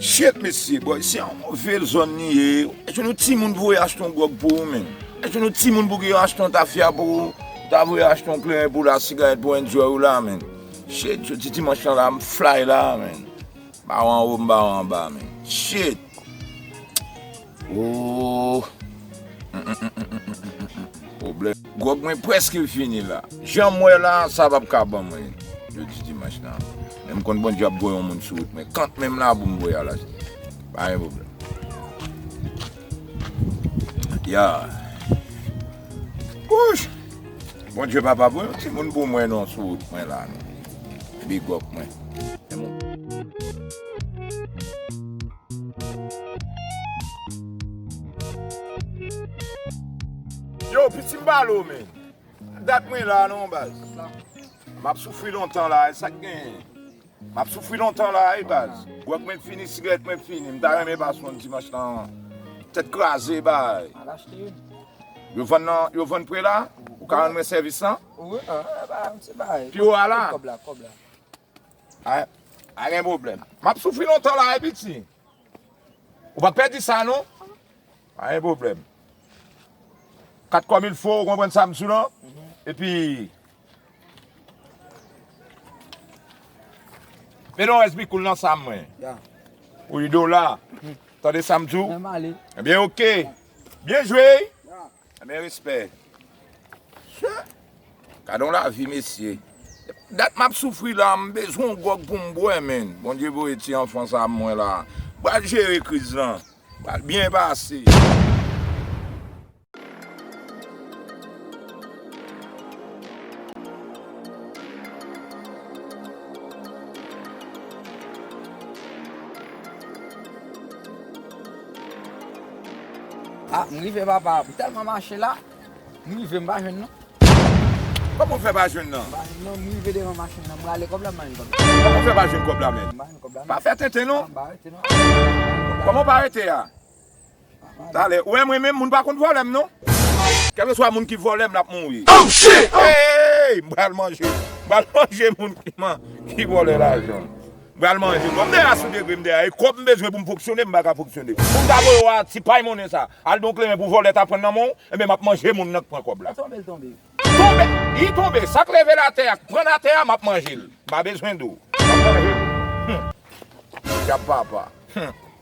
Shit mesye boy se yon move zòn li ye Eske nou timoun pou yo achte yon gwòg pou ou menm Eske nou timoun pou yo achte yon tafya pou ou Ta vle achte yon kleren pou la sigarèt pou enjoy ou la menm Shit jodi dimanch lan la m flay la menm M pa wè anwo m pa wè anba menm Shit. Gwòg mwen prèske fini la. Jan m wè la, sa pap ka ban mwen jodi dimanch la. Men m konn Bondye ap voye yon moun sou wout mwen. Kant men m la pou m voye al achte. Pa gen pwoblèm. Ya! Wouch! Bondye pa pa voye yon timoun pou mwen non sou wout mwen la non. Bigòp mwen. Yo piti m pa lo men. Dat mwen la non baz. M ap soufri lontan la e sak genyen. M ap soufri lontan la e baz. Gwòg mwen fini, sigarèt mwen fini. M ta renmen baz pran dimanch lan an. Tèt kraze e bay. Al achte youn. Yo vann nan, yo vann pre la? Ou ka rann mwen sèvis lan? Wi, an, e bay, se bay. Pi wo a la? Kòb la, kòb la. Pa gen pwoblèm. M ap soufri lontan la wi piti. Ou pa pè di sa non. Pa gen pwoblèm. Kat kòm il fo ou konprann sa m di w lan. E pi. Mete yon rès bikoul nan sa mwen. Ou yi dola. Tande sa m di w. E byen ok. Byen jwe. Anbyen respè. Chè. Gade yon lavi mesye. Dat map soufri la m bezwen yon gròg pou m bwè menn. Bondye voye ti anfan sa m mwen la. M pral jere kriz lan. M pral byen pase. Ah m rive papa m telman mache la m rive m pa jwenn non. Koman w fè pa jwenn nan? M pa jwenn non m rive devan machin nan m rale kòb la m pa jwenn kòb la. Koman w fè pa jwenn kòb la menn? M pa jwenn kòb la non. Pa fè tenten non. M pa rete non. Koman w pa rete a? Talè. Ou wè mwen menm moun pa konn vòlè m non. Kèlkeswa moun ki vòlè m l ap mouri. Oh shit! Hey! M pral manje. M pral manje moun ki vòlè lajan. M pral manje. Bon m deja sou degre m deja e kòb m bezwen pou m fonksyone m paka fonksyone. Pou m ta voye w a ti pay monnen sa. Al don kleren pou vòlè ta pran nan men w enben m ap manje moun nan k pran kòb la. L tonbe l tonbe. L tonbe! Li tonbe! Sa k leve l atè a k pran l atè a m ap manje l. M pa bezwen de w. M ap manje l. Hum! Dyab papa. Hum!